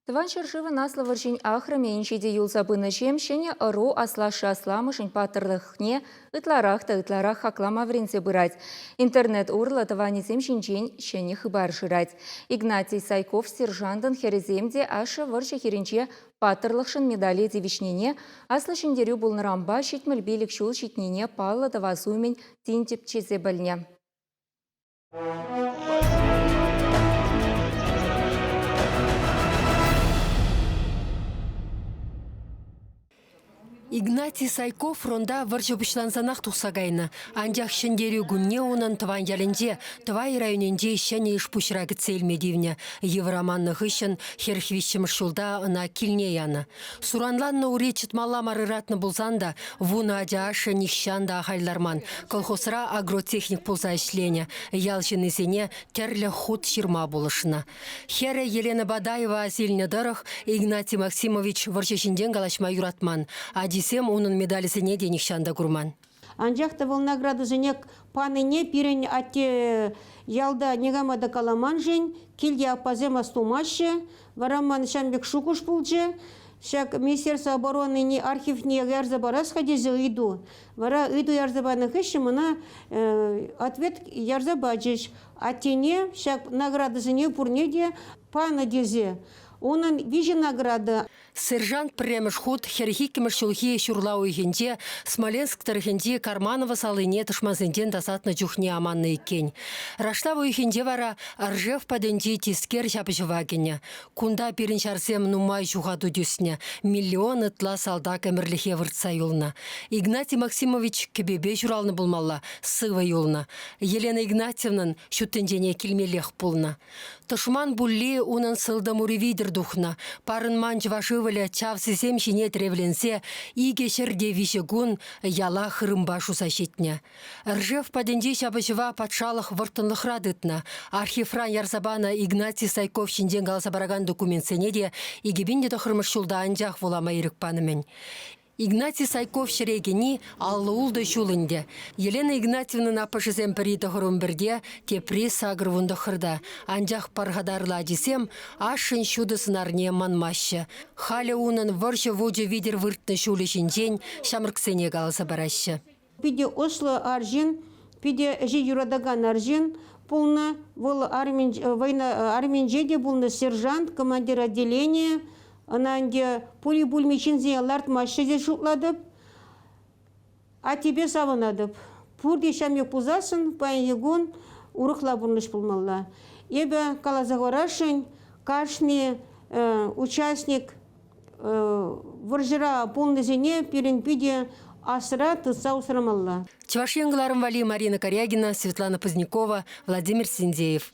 Тӑван ҫӗршывӑн Аслӑ вӑрҫин ахрӑмӗн ҫити юлса пынӑҫем ҫӗнӗ ӑру аслашшӗ-асламӑшӗн паттӑрлӑхне ытларах та ытларах хаклама вӗренсе пырать. Интернет урлӑ тӑванӗсем ҫинчен ҫӗнӗ хыпар шырать. Игнатий Сайков сержантӑн хӗрӗсем те ашшӗ вӑрҫӑ хирӗнче паттӑрлӑхшӑн медале тивӗҫнине, Аслӑ Ҫӗнтерӳ пулнӑранпа ҫитмӗл пилӗк ҫул ҫитнине паллӑ тӑвас умӗн тин тӗпчесе пӗлнӗ. Игнатий Сайков фронта вӑрҫӑ пуҫлансанах тухса кайнӑ. Анчах Ҫӗнтерӳ кунне унӑн тӑван ялӗнче, Тӑвай районӗнче ҫӗнӗ ӗҫ-пуҫра кӗтсе илме тивнӗ. Йывӑр аманнӑ хыҫҫӑн хӗр виҫҫӗмӗш ҫулта ӑна килне янӑ. Суранланнӑ ури чӑтмалла мар ыратнӑ пулсан та вунӑ ача ашшӗ нихҫан та ахаль ларман. Колхозра агротехник пулса ӗҫленӗ. Ял ҫыннисене тӗрлӗ хут ҫырма пулӑшнӑ. Хӗрӗ Елена Бадаева асилнӗ тӑрӑх Игнатий Максимович вӑрҫӑ ҫинчен калаҫма юратман. Ачисем унӑн медалӗсене те нихҫан та курман. Анчах та вӑл наградӑсене панине пирӗн атте ялта никама та каламан-шин, килте аппасем астумаҫҫӗ. Вара ман ҫам пек шухӑш пулчӗ, ҫак Министерство оборонине архивне ярса парас-ха тесе ыйту. Вара ыйту ярса панӑ хыҫҫӑн мана ответ ярса пачӗҫ. Аттене ҫак наградӑсене пурне те панӑ тесе. Унӑн виҫӗ награда. Сержант пӗрремӗш хут хӗрӗх иккӗмӗш ҫулхи ҫурла уйӑхӗнче Смоленск тӑрӑхӗнчи Карманово салине тӑшмансенчен тасатнӑ чухне аманнӑ иккен. Рашлав уйӑхӗнче вара Ржев патӗнчи тискер ҫапӑҫӑва кӗнӗ. Кунта пирӗн ҫарсем нумай ҫухату тӳснӗ, миллион ытла салтак ӗмӗрлӗхе выртса юлнӑ. Игнатий Максимович кӗпепе ҫуралнӑ пулмалла, сывӑ юлнӑ. Елена Игнатьевнан ҫут тӗнчене килмеллех пулнӑ. Тӑшман пулли унӑн сылтӑм ури витӗр тухнӑ. Парӑнман чӑваш ывӑлӗ чавсисем ҫине тревленсе икӗ ҫӗрте виҫӗ кун яла хырӑмпа шуса ҫитнӗ. Ржев патӗнчи ҫапӑҫӑва патшалӑх вӑрттӑнлӑхра тытнӑ. Архивран ярса панӑ Игнатий Сайков ҫинчен каласа паракан документсене те икӗ пин те тӑххӑрмӗш ҫулта анчах вулама ирӗк панӑ-мӗн. Игнатий Сайков ҫӗре кӗни аллӑ-ултӑ ҫул ӗнтӗ. Елена Игнатьевнӑн аппӑшӗсем пӗри тӑхӑрӑмпӗрте, тепри сакӑр вун тӑххӑрта. Анчах пархатарлӑ ачисем ашшӗн ҫутӑ сӑнарне манмаҫҫӗ. Халӗ унӑн вӑрҫӑ вучӗ витӗр выртнӑ ҫулӗ ҫинчен ҫамрӑксене каласа параҫҫӗ. Питӗ ӑслӑ арҫын, питӗ ӗҫе юратакан арҫын пулнӑ. Вӑл арминче те пулнӑ сержант, командир отделения. Ӑна ӗнтӗ пули-пулми ҫынсене лартмаҫҫӗ тесе шутлатӑп. Аттепе савӑнатӑп. Пурте ҫамрӑк пулсассӑн паянхи кун урӑхла пурнӑҫ пулмалла. Эпӗ каласа хӑварасшӑн, кашни участник Вӑрҫӑра пулнисене пирӗн питӗ асра тытса усрамалла. Чӑваш Ен кӑларӑм валли Марина Корягина, Светлана Позднякова, Владимир Синдеев.